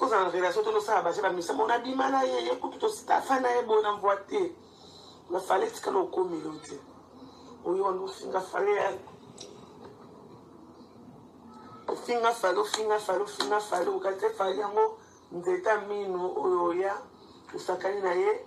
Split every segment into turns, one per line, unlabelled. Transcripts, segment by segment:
kozala na relation to tosala baje bamisa mona bima na ye ye kutu tositafa na ye boye na mvwa te na fale etikala okomi yo te oyo wana ofinga fale ya ofinga fale ofinga fale ofinga fale okati fale yango nzeta mino oyo oya osakani na ye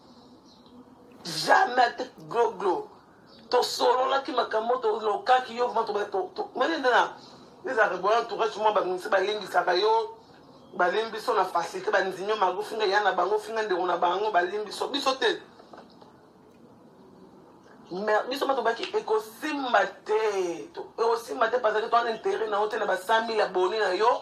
jamais te gloglo tosololaki makambo tolokaki yo vraimen tobaoyende na ezalaka boya entourage mwa baminisi balembisaka yo balembi biso na facilité bandimi yo mago finga ya na bango finga ndeko na bango balembi biso biso te mais biso ma tobaki ekosimba te ekosimba te parce que toana intérêt na yo te na ba 100 000 abonné na yo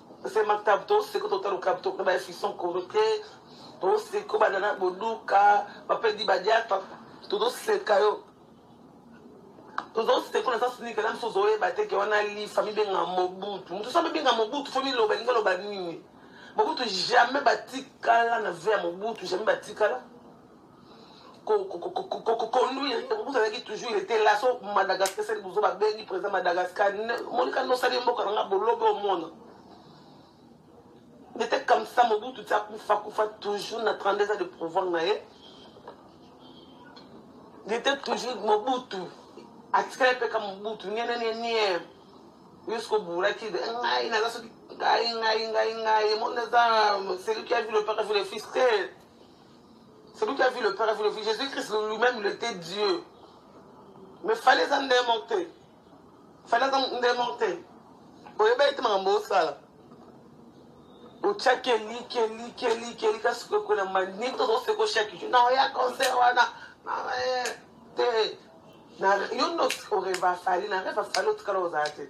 sema tabu toseko totala okabu tokuna ba efison koro te toseko banana boduka bapedi badiata tozoseka yo tozoseka kuna sasa nika na misusu ozoyeba te ke wana lifa mibenga mobutu motu sa mibenga mobutu fo miloba elingi oloba nini mobutu jamais batikala na ve ya mobutu jamais batikala koconduire bozalaki toujours il était là so madagascar sali bozo babengi président madagascar monika nosali mboka na nga bolobe omona nete comme ça mobutu ti akufa kufa toujours na 32 ans de pouvoir na ye nete toujours mobutu atikali mpe ka mobutu nienenienie yusko buraki ngai naza soki ngai ngai ngai ngai mona eza celui qui a vu le père a vu le fils te Celui qui a vu le Père a vu le Fils. Jésus-Christ lui-même, il était Dieu. Mais fallait en démonter. Fallait en démonter. oyeba ete makambo osala otyaki eliki eliki eliki eliki asiko ekola manini tozoseko chaque jour na oya concert wana te yo nde oreva fali na reva fali otikala ozala te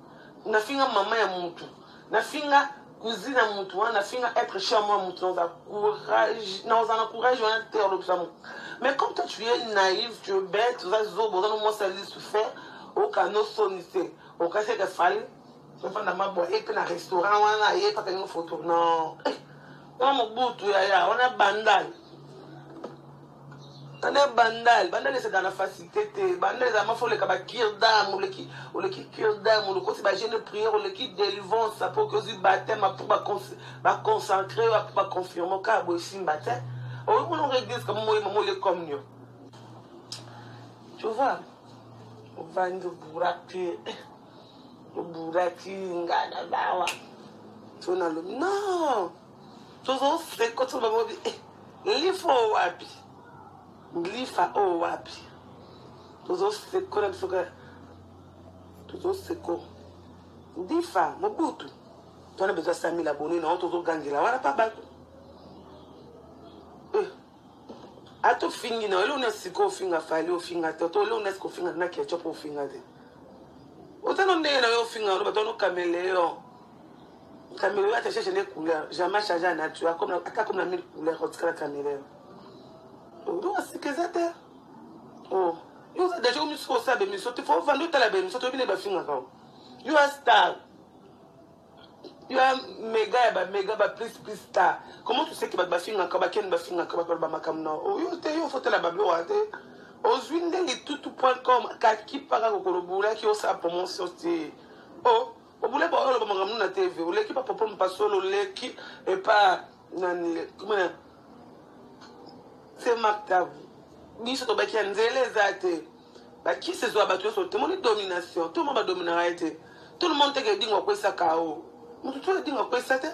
nafinga mama ya mutu nafinga cousine ya mutu wana nafinga être cher moi mutu naoza courage naoza na courage wana te olobisa mutu mais comme toi tu es naïve tu es bête oza zobo oza no mwasi ali souffert okano soni te okasi eke fali ofanda mabwa ye mpe na restaurant wana ye mpe akangi foto non wana mobutu yaya wana bandal tana bandal bandal ezalaka na facilité te bandal ezalaka mafa oleka bakirdam oleki oleki kirdam olokoti bagene prière oleki délivrance apo oki ozwi bateme apo baconcentre yo apo baconfirme kaka boye simba te oyo mona ngo église kama moyema mole communion tu vois ovandi oburaki oburaki ngana bawa to nalobi non tozo sekoto bango bi eh, lifa oyo wapi lifa oyo wapi tozo seko na biso kaka tozo seko lifa mobutu twana bezo asamila boni na yo tozogangela wana pa bato eh, ata ofingi na yo eleo nasi sikoyo ofinga fali ofinga te to eleo nasi kofinga na ketchup ofinga te otano ndenge na yo ofinga oloba tano kameleon Caméléon ata cherche ne couleur jamais change ya nature akomi ata akomi na mille couleur otikala caméléon odo asika eza te o yo oza deja omi soki osala bemission te fo ovanda otala bemission toyebi nde bafingaka o yo a star yo a mega ya bamega ba plus plus star comment tu sais ke bato bafingaka bakeni bafingaka bato baloba makambo na o yo te yo fotala bablowa te ozwi nde litutu point com kakipaka kokolobulaki osala promotion te o oh. obule ba oloba makambo na tv oleki ba papa mpasolo oleki epa nani kumana se maktabu biso tobaki ya nzela eza te bakisi ezwa bato nyonso te moni domination tout le monde badominaka ye te tout le monde teke edingo akwesa kao moto tu edingo akwesa te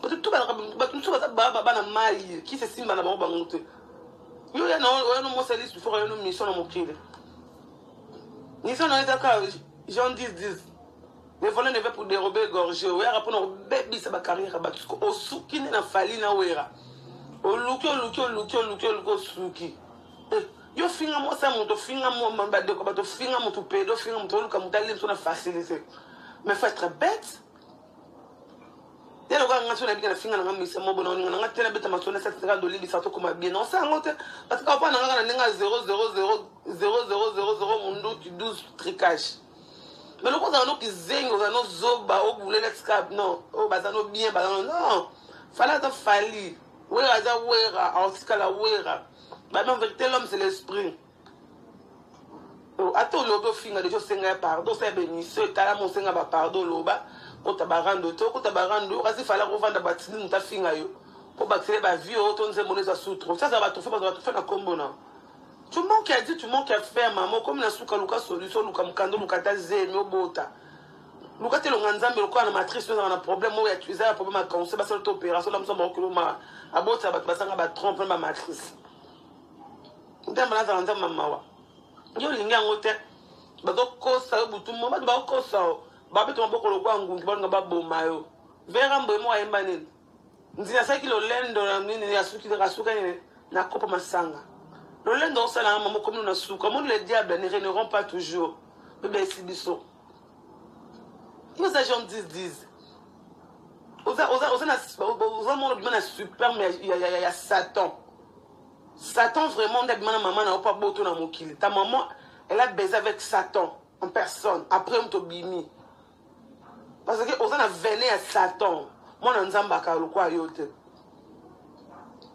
bato tu balaka bato mosusu baza baba bana mai kisi esimba na bango bango te yo yana oyano mosalisi foko oyano mission na mokili Nissan nayo eza kaka Jean 10 10. Le volet ne veut pour dérober égorger. Wera pona obebisa ba carrière ya bato. Osuki nde na fali na wera. Oluki oluki oluki oluki oluki osuki. Eh, yo finga mwasi ya moto finga badeko bato finga moto pedo finga moto oluka moto alimso na facilité mais faut être bête ye lokola nga so nabika nafinga nanga misa mobo na oninga nanga te nabeta masolo nasatisaka dolibisa tokoma bien na osala yango te parce que opa nanga kaka na ndenge ya 00000 munduti 12 tricage mais loko ozala no kizengi ozala no zoba obule na tika non oyo baza no bien baza no non fali aza fali wera aza wera aotikala wera bamien verité l'homme c'est l'esprit Oh, ata olobi ofinga deja osenga ya pardon osala bemission etalama osenga bapardon oloba kota barando te okota barando yo kasi falaka ovanda batini moto afinga yo mpo bakisele bavie oyo to nzembo no eza sutro sasa batufe bato batufe na nkombo na tu manque ya di tu manque ya fer mama okomi na suka luka solution luka mokanda luka ata zemi obota luka te elonga nzambe lokola na matrice oyo ezaka na problème oyo eza ya problème ya cancer basala te opération na mosa maokilo ma abotisa bato basanga batrompe na bamatrice nzambe nazala nzambe ya mawa yo olingi yango te bazokosa yo butu mo bato bakokosa yo babeta maboko lokola ngungi balinga baboma yo vera mboye moko ayemba nini nzina asalaki lolendo na nini asuki asuka nini na kopa masanga lolendo osala yango mama okomi na suka moni le diable ne reneront pas toujours bebesi biso yo oza jean 10 10 oza mona bima na superme ya satan Satan vraiment nda bimana maman na opa boto na mokili. Ta maman elle a baisé avec Satan en personne après moto bimi. Parce que oza na veine ya Satan. Mwana Nzambe aka lokwa yo te.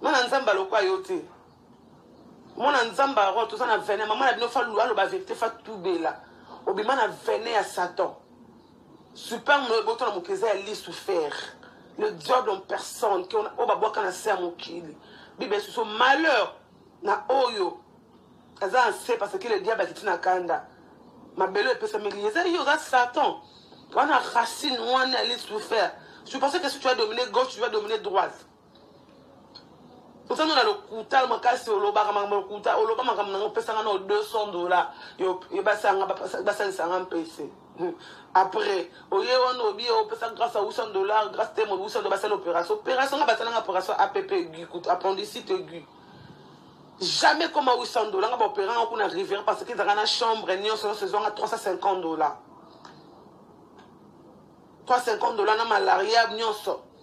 Mwana Nzambe lokwa yo te. Mwana Nzambe aro toza na veine maman na bino fa lwa loba vérité fa tubela. Obima na veine ya Satan. Super no eboto na mokili eza ya lisu fer le diable en personne ke oyo babwaka na se ya mokili bible esusu malheur na oyo aza na se parce que le diable akiti na kanda mabele oyo epesameli eza yo oza satan wana racine wana ya lisu fer je pensais que si tu as dominé gauche tu vas dominer droite oza no na lokuta makasi olobaka makambo ya lokuta oloba makambo nango opesanga nao 200 dollar basanga basalisanga mpese hmm. après oye wana obi opesa grâce ya 800 dollar grâce te mobi 800 basala opération opération nga basalanga opération app aigu kutu appendicite aigu jamais koma 800 dollar nga baopéranga kuna rivière parce que ezalaka na chambre nyonso nyonso ezwanga 350 dollar 350 dollar na malaria nyonso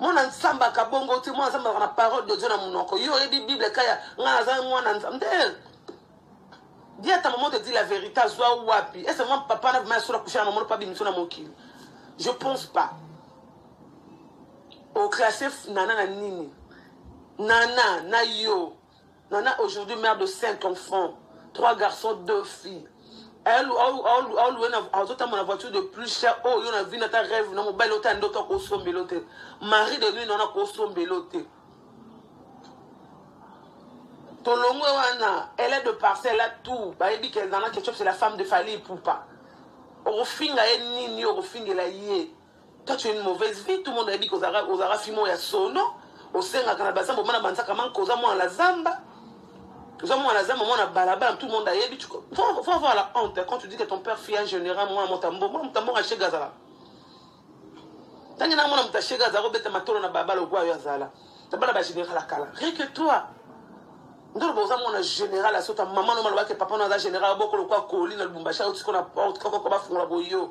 mwana nsambe akabongo te mwana nsambe azalaka na parole de dieu na monoko yo oyebi bible kaya ngai naza mwana nde dia ta maman te dit la vérité azwa wapi ese mwa papa na vrima yasola kusha na mamono pa bimiso na mokili je pense pas oclasse nana na nini nana na yo Nana aujourd'hui mère de 5 enfants, 3 garçons, 2 filles. Elle aoluwe na azotamba na voiture de plus cher oyo oh, yo na vie na ta rêve na mobali ota nde ota kosombela te mari de nuit naona kosombela te tolongwe wana elle est de parcelle a tout bayebi ke nana ketchup c'est la femme de fali poupa okofinga ye nini okofingela ye Toi, tu es une mauvaise vie. Tout le monde a dit que Ozara Fimo ya sono. Osenga Kanabasa, Bomana Bansaka Manko, Ozamo à la Zamba. Ozamo à la Zamba, Mona Balabala, tout le monde a dit. Faut, faut avoir la honte quand tu dis que ton père fit un général, moi, mon tambour, moi, mon tambour, acheté Gazala. Tangi na mona mutache Gazala, obeta matolo na babalo, gwa yo azala. Tabala ba général à Kala. Rien que toi. ndolo boza mona général asota mama no malobaki papa no aza général bokolo kwa koli na lubumbashi ayotikona porte kokoko bafungola boyo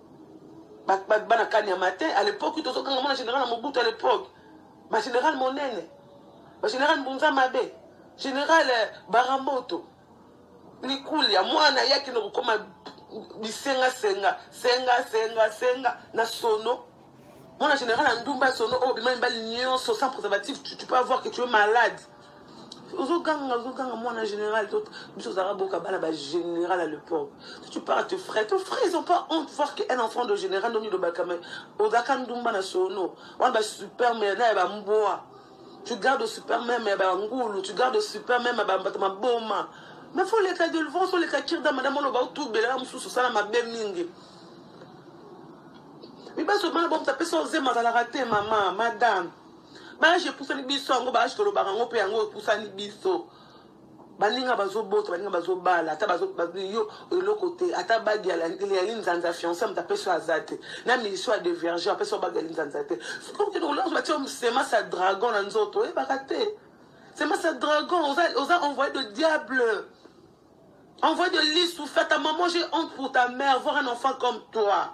bana kani ya matin à l'époque tozokanga mwana général ya mobutu à l'époque bagénéral monene bagénéral mbunza mabe général euh, baramboto likulia mwana yaki na kokoma bisengasenga senga senga senga na sono mwana général ya ndumba sono oyo bima mibali nyonso sans préservatif tu, tu peux avoir que tu es malade ozoganga ozoganga mwana général to biso ozalaka boka bana ba général à l'époque tu parles à tes frères tes frères ils ont pas honte voir que un enfant de général ndongi lobaka mais ozaka ndumba na sono wana ba super mais na ya ba mboa tu gardes au super même ya ba ngulu tu gardes au super même ya ba bato maboma mais faut leka de levance oleka kirda madame oloba otubela mosusu osala mabe mingi mibaso bana bomta pesa ozema azalaka te mama madame baage epusani biso yango baage tolobaka yango mpe yango epusani biso baninga bazobota baninga bazobala ata yo eloko te ata bagi ya linzanza fiance moto apesi oyo aza te na milisio ya deverge apesi oyo bagi ya linzanza te batia semence ya dragon na nzoto oyebaka te semence ya dragon oza envoyé de diable envoyé de lisu fata maman j'ai honte pour ta mère voir un enfant comme toi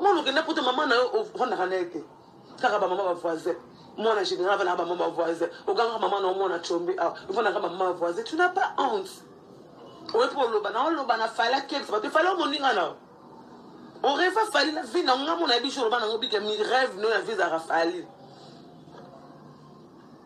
mwana okenda poto mama na yo ofandaka na ye te kaka bamama bavoisin mwana général afandaka bamama bavoisin ogangaka mama na yo mwana combe awa ah, ofandaka bamama bavoisin tu na pas honte oye mpo oloba na oloba na fali akebisa bato efali omoninga na yo oreva fali na vi na ngo nga mona yebi jour oloba na ngo bike mi rêve no ya vi ezalaka fali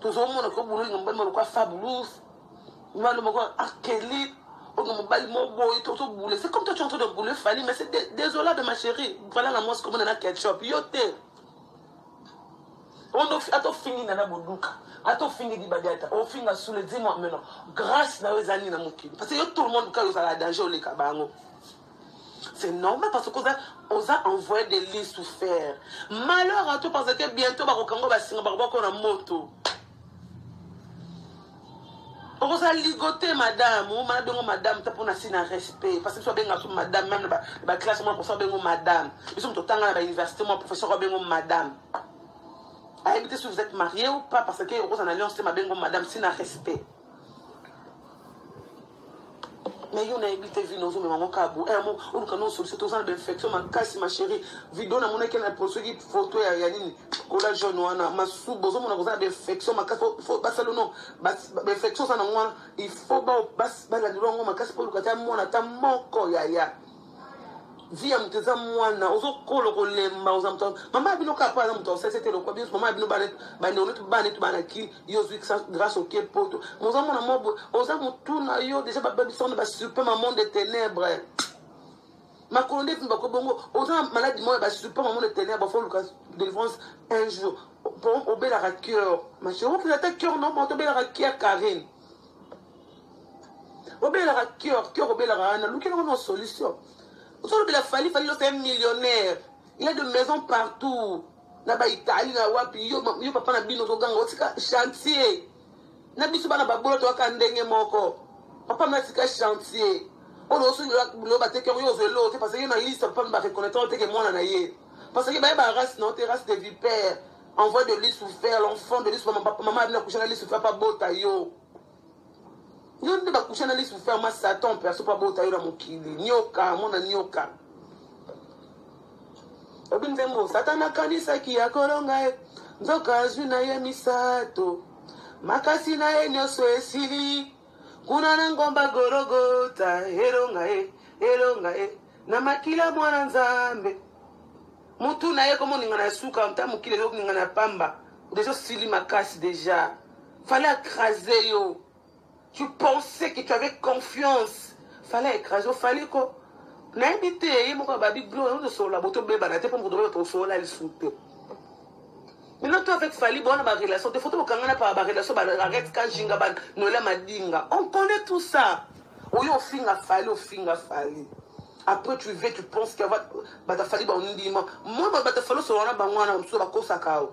tozomona ko bololi na mobali moko lokola fabulous mobali moko akeli oyo mobali moko boye tozobule c'est comme toi tu es en train de bouler fali mais c'est désolable ma chérie vala na mwasi komona na ketchup yo te ata ofingi nana boduka ata ofingi dibadiata ofinga sule dis moi maintenant grâce na yo eza nini na mokili parce que yo tout le monde kaka ozala danger oleka bango C'est normal parce que oza, oza envoyé de Lucifer. Malheur à toi parce que bientôt bakokanga basinga bakobako na moto. okoza ligote madame omana bengo madame ta mpona si na respect parce biso abenga so madame meme na baclasse mwa professeur abengo madame biso moto otanga na bauniversité mwa professeur abengo madame ayebi te si vous êtes marié ou pas parce que okoza na alliance te mabengo madame si na respect mais yo nayebi te vino ozomema yango kaka bo amo eh, oluka no solution toza na bainfection makasi ma chérie video namonaki na soki photo ya ya nini kola jaune wana masuba ozomona koza na bainfection makasi basalo no bainfection oza nango wana il faut balandelo yango makasi mpo oluka ata mwana ata moko yaya vie ya moto eza mwana ozokolo kolemba oza moto mama ya bino kaka mpo aza moto osese te lokwa biso mama ya bino bandeko netu bana netu banaki yo ozwi grâce oke poto moza mwana mwa boye oza motu na yo déjà bababisana basupe ma monde ténèbre makolo nde evimba ko bongo oza maladi moko ya basupe ma monde ténèbre fo oluka délivrance un jour obelaka cœur ma chérie okenda ata cœur no moto obelaka cœur carine obelaka cœur cœur obelaka wana lukela ngo na solution ozolobela fali fali losa un millionnaire il y a de maison partout na baitalie na wapi yo, yo papa na bino ozoganga otika chantier na biso bana babolo toyaka ndenge moko papa na tika chantier oyo osolobilo bateke yango yo ozwa eloko te parce que yo na liste papa mi bareconnaitre oteke mwana na ye parce que baye ba race na yo te race de vipère envoie de lui souffert l'enfant de lui souffert mama abina kushana lui souffert pa bota yo yo nde bakusha na lisu ferma satan perso mpo abota yo na mokili nioka mona nioka obi nzembo satan akanisaki ya kolonga ye nzoka azwi na ye misato makasi na ye nyonso esili kuna na ngomba gologota elonga ye elonga ye na makila mwana nzambe mutu na ye komoningana ya suka nta mokili ezokoningana ya pamba deja osili makasi deja Fallait écraser yo. Tu pensais que tu avais confiance. Fallait écraser yo. Fallait ko. nayebi te ye moko ababi blo ozosolola boto bebana te mpo moto oyo tosolola lisu te maintenant toi avec fali bona barelation te fo tokokangana pa barelation baarete kajinga banoela madinga on connaît tout ça oye ofinga fali ofinga fali après tu ve tu penses que batafali bandima moi batafali osolola na bango wana mosusu bakosaka o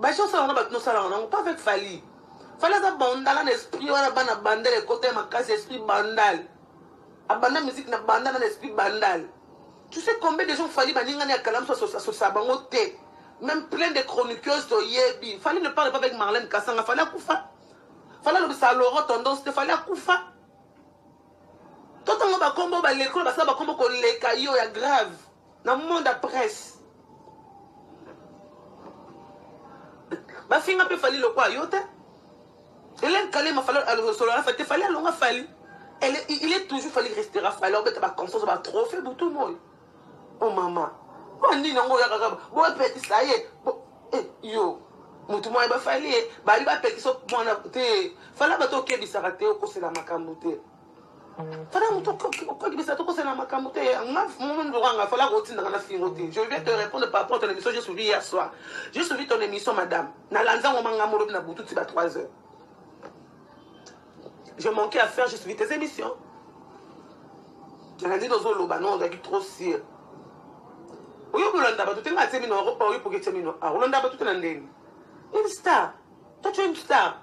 Baisha osala wana bato nosala wana ngo pas avec Fally. Fally aza bandala na esprit wana bana bandal ekota makasi esprit bandal. Abanda musique na banda na esprit bandal. Tu sais combien de gens Fally baningani ya kalamu sosa sosa bango te. Même plein de chroniqueuses toyebi. Fally ne parle pas avec Marlène Kassanga. Fally akufa. Fally alobisa Laurent tendance te. Fally akufa. Totango bakombo balekolo basala bakombo koleka yo ya grave. na monde ya presse bafinga mpe fali lokwa yo te elene kalema fali alosolo na fali te fali alonga fali Elle, il est toujours fallu rester à falloir mettre ma conscience ma trophée pour tout le monde. Oh maman. Moi ni nango ya kaka. Bon petit ça y est. Bon eh yo. Mutu moi ba fallu. Ba li ba petit so moi na te. Fala ba to kebisa raté au conseil la makambo te. Fala moto okolibisa tokosala makambo te nga mondokanga fala kotindaka na fingo te je vais te répondre par rapport ton émission j'ai suivi hier soir j'ai suivi ton émission madame nalandi yango manga molobi na butu ti ba 3 heures je manquais à faire j'ai suivi tes émissions nalandi tozoloba no ozalaki trop sur oyo kolanda bato te nga atie mino oyo poki etie mino akolanda bato te na ndenge une star toi tu es une star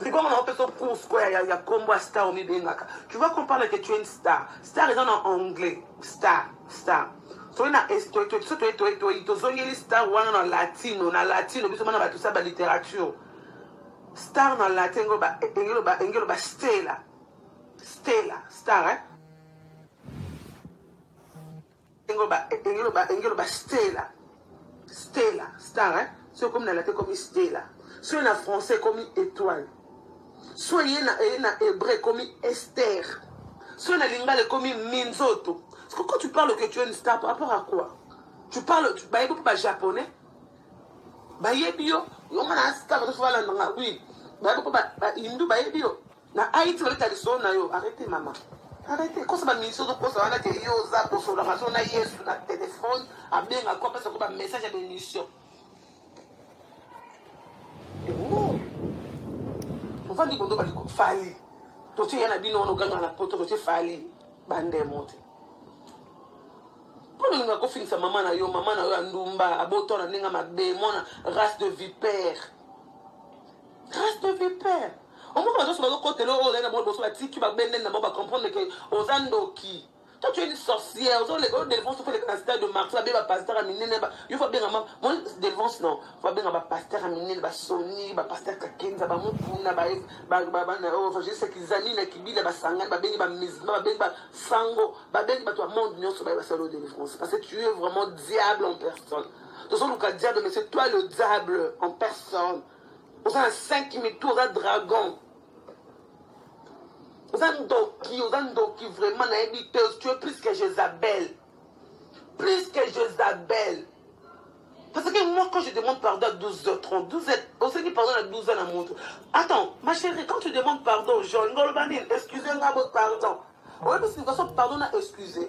Sikoyo na pesa course quoi ya ya combo star au mibengaka. Tu vois qu'on parle que tu es une star. Star est en anglais. Star, star. soki na tozongeli star wana na latino na latino biso bana bato sa balittérature star na latin engelo ba stela stela star eh? Engelo ba engelo ba engelo ba stella. Stella, star hein. Soki okomi na latin ekomi stella. Soki na français ekomi étoile. Soki ye na ye na hébreu ekomi Esther. Soki na lingala ekomi minzoto. Quand tu parles que tu es une star par rapport à quoi? Tu parles tu bayebi mpe ba japonais. Bayebi yo, yo nga na star to fala nga oui. Bayebi mpe ba, ba hindu bayebi yo. Na Haïti babeta lisolo na yo. Arrete mama. Arrete kosa ba mission zo kosa wana ke yo oza kosola maso na Yesu na téléphone abenga ko pesa ko ba message ya bénédiction. Oh. Ovandi kondo bali ko fali. Totie yana bino wana oganga na poto totie fali bande mote. Mpo olinga kofingisa mama na yo mama na yo ya ndumba abotona ndenge mabe mwana race de vipère Reste de vipère. Omoko bazoso bazokotela oyo ozali na bango liboso batiki babendeni na bango bacomprendre ke oza ndoki toi tu es une sorcière ozo leka yo delvance ofa leka na stade de marti babe bapasteur ya minene yo fa benga ma moi delvance non fa benga bapasteur ya minene basoni bapasteur kakenza bamokuna baevangeliste kizami na kibila basangani babengi bamusulman babengi basango babengi bato ya monde nyonso baye basala yo delvance parce que tu es vraiment diable en personne tozoluka diable mais c'est toi le diable en personne oza na 5 mitu oza dragon oza ndoki oza ndoki vraiment nayebi te tu es plus que jezabel plus que jezabel parce que moi quand je demande pardon à 12 heures 30 12 heures osengi pardon na 12 heures na moto attends ma chérie quand tu demandes pardon genre ngoloba nini excuse nga bo pardon oyebi signification pardon na excuse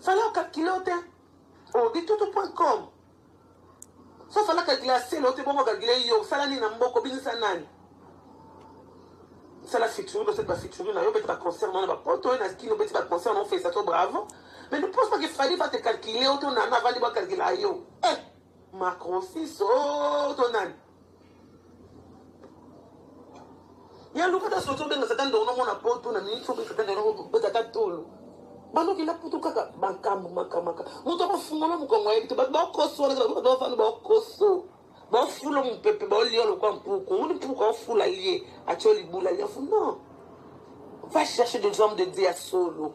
Fala calculer yo te. Oh, bitutu.com. So fala calculer aselo te bongo calculer yo. Sala nini na mboko binisa nani? sala featuring basali ba featuring na yo obeti ba concert na yo na bapoto oyo na kini obeti ba concert na ofesa to bravo mais ne pense pas que fali va te calculer oto nana avandi bacalcula yo eh macrosiso to nani ya lukata soki obenga satan ndongo nomona poto na mingi soki satan ndongo betaka tolo banoki na putu kaka makambo makamaka moto akofungola mokongo ayebi te bato bakoso wana bato bafanda bakoso bafula mopepe baolia lokwa mpuku omoni mpuku afula lie atyo libula lia fu non va chercher des hommes de dieu ya solo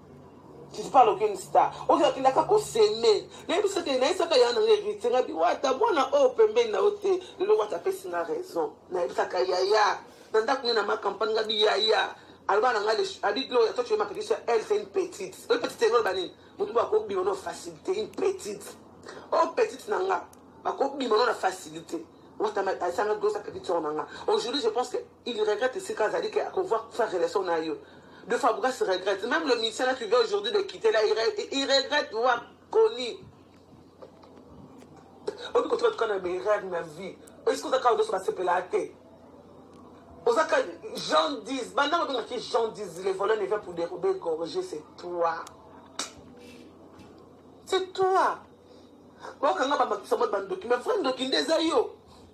Tu parles aucune star. Ozo akenda ka ko semer. Na yebi saka na saka ya na ngeri tsenga bi wata mwana o pembeni na ote. Lelo wata pesi na raison. Na yebi saka ya ya. Na ndaku na ma campagne ngabi ya ya. Alba na ngale abi dlo ya toi tu es ma petite soeur, elle c'est une petite. Une petite ngol bani. Mutu ba ko bi ono facilité une petite. Oh petite na nga. Ba ko bi ono na facilité. Wata ma asanga dosa petite soeur na nga. Aujourd'hui je pense que il regrette esika azali ke akovoir sa relation na yo de fabregas regrette même le musicien là tu viens aujourd'hui de quitter là il regrette voir connu obi kotika tuka na berere na vie esika oza kaka nyonso basepelaa te oza ka jean 10 bandako obengaki jean 10 le volet ne vient pour dérober gorge c'est toi c'est toi okanga bamakisa mwa bandoki mais vrai ndoki nde eza yo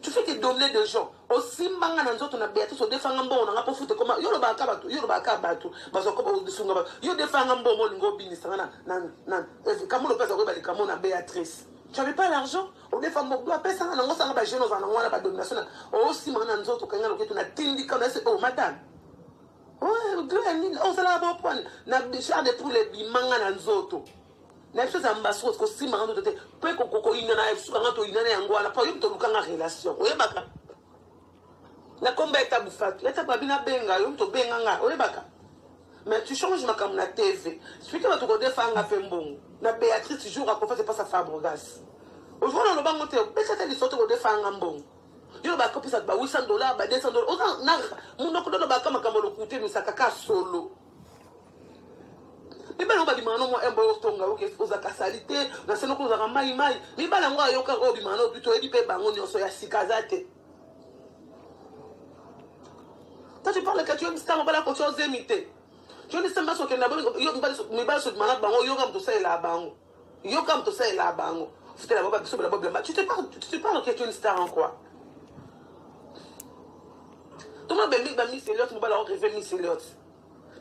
tu fais te dominer de gens osimba nga na nzoto na beatrice odefa nga mbongo na nga mpo fute ekoma yo olobaka ka bato yo olobaka ka bato bazwa koba osunga bato yo odefa nga mbongo olingi obinisa nga na kamolo mpe aza koyeba likambo na beatrice tu avais pas l'argent odefa mbongo apesa nga nango osanga bajeune ozala nango wana badomination na osimba nga na nzoto okangi nga loketu natindika na ese o oh, madame oh, ozalaka bopwane na char de poule ebimanga na nzoto na biso eza mbasi oyo kosimbaka ndoto te mpo ekokokoyina na biso banga toyina na yango wana mpo yo moto olukanga relation oyebaka na komba ya tabu fatu ya tabu abina benga yo moto obenga nga oyebaka mais tu change makambo na tv soki bato kodefa nga mpe mbongo na béatrice jour akofete mpo sa fabregas ozoka na lobango te opesa te liso te kodefa nga mbongo yo lobaka opesa ba 800 dollar ba 200 dollar oza na monoko lolobaka makambo lokute misaka ka solo mibali yango babimaka no mwa embo yo otonga yo ozalaka sali te na se noko ozalaka mai mai mibali yango ayoka oyo obimaka no bito oyebi mpe bango nyonso ya sika aza te toi tu parle que tu aimes ça mobala kotia ozemi te joni semba sokenda mibali sokimana bango oyoka moto osalela bango Yo comme tout ça est là bango. C'était la boba biso la boba. Tu te parles tu te parles que tu es une star en quoi Tout le monde bembi ba Miss Elliot, mo ba la rêver Miss Elliot.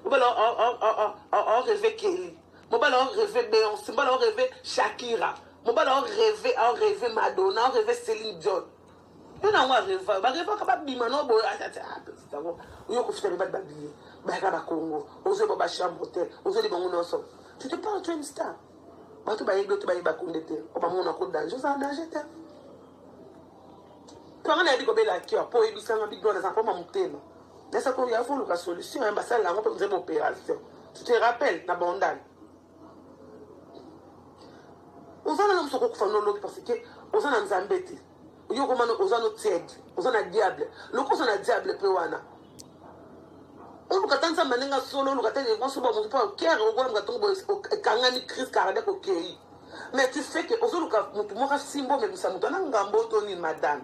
Mo ba la on rêver Kelly. Mo ba la rêver Beyoncé, mo ba la rêver Shakira. Mo ba la rêver, on rêver Madonna, on rêver Céline Dion. mpo na yango areva barevaka babima no boye yango oyo kofuta mibali babiye bayaka bakongo ozoyeba bachambre hotel ozoli bango nyonso tu te parle twin star bato bayebi oto bayeba kunde te o bamona ko danger oza danger te tanga nayebi kobela cœur mpo oyebisanga bidwa naza mpoma motema nasa koya foluka solution ya basala yango mpe oza baopération tu te rappelle na bondale oza nana mosu okokufa no lobi parce que oza na nzambe te yo okomana oza no tiede oza na diable loki oza na diable mpe wana oluka ata nzambe aninga solo oluka te liboso ba mosu mpo okere okolamka ntongo boye ekangani crise cardiaque okei mais tu sais que ozoluka motu moko asimba omemisa motu ana ngambo to nini madame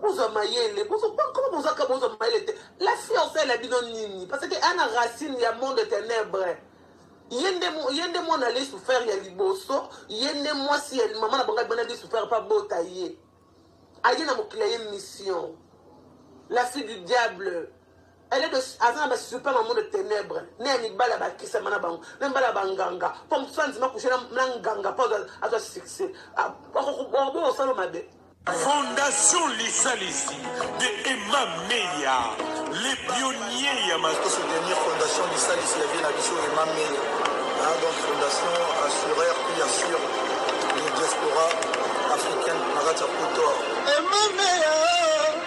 Boza mayele, boza comment boza ka boza mayele te. La fiancée la bino nini? Parce que ana racine ya monde ténèbres. ye nde mo- ye nde mwana ali souffert ya liboso ye nde mwasi ya mama na bango abana ali souffert mpe abota ye aye na mokili ya ye mission la fille du diable Elle est de, aza na ba super maman de ténèbres ne ya mibali abakisama na bango na mibali ya banganga mpo mosusu andima kushe na nganga mpo azwa succès okobo osalo mabe Fondation
Lisalisi de Emma Meya, les pionniers ya mato soutenir Fondation
Lisalisi ya vie na biso Emma Meya. Hein, donc Fondation assureur puis assure les diaspora africaine na kati ya Poto. Emma Meya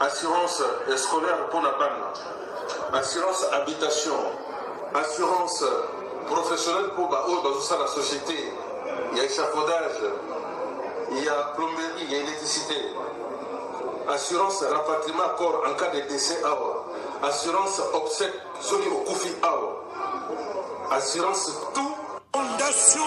assurance scolaire mpo na bana assurance habitation assurance professionnelle mpo baoyo bazosala société ya échafaudage ya plomberie ya électricité assurance rapatriement corps en cas de décès awa assurance obsèque soki okufi awa assurance tout
fondation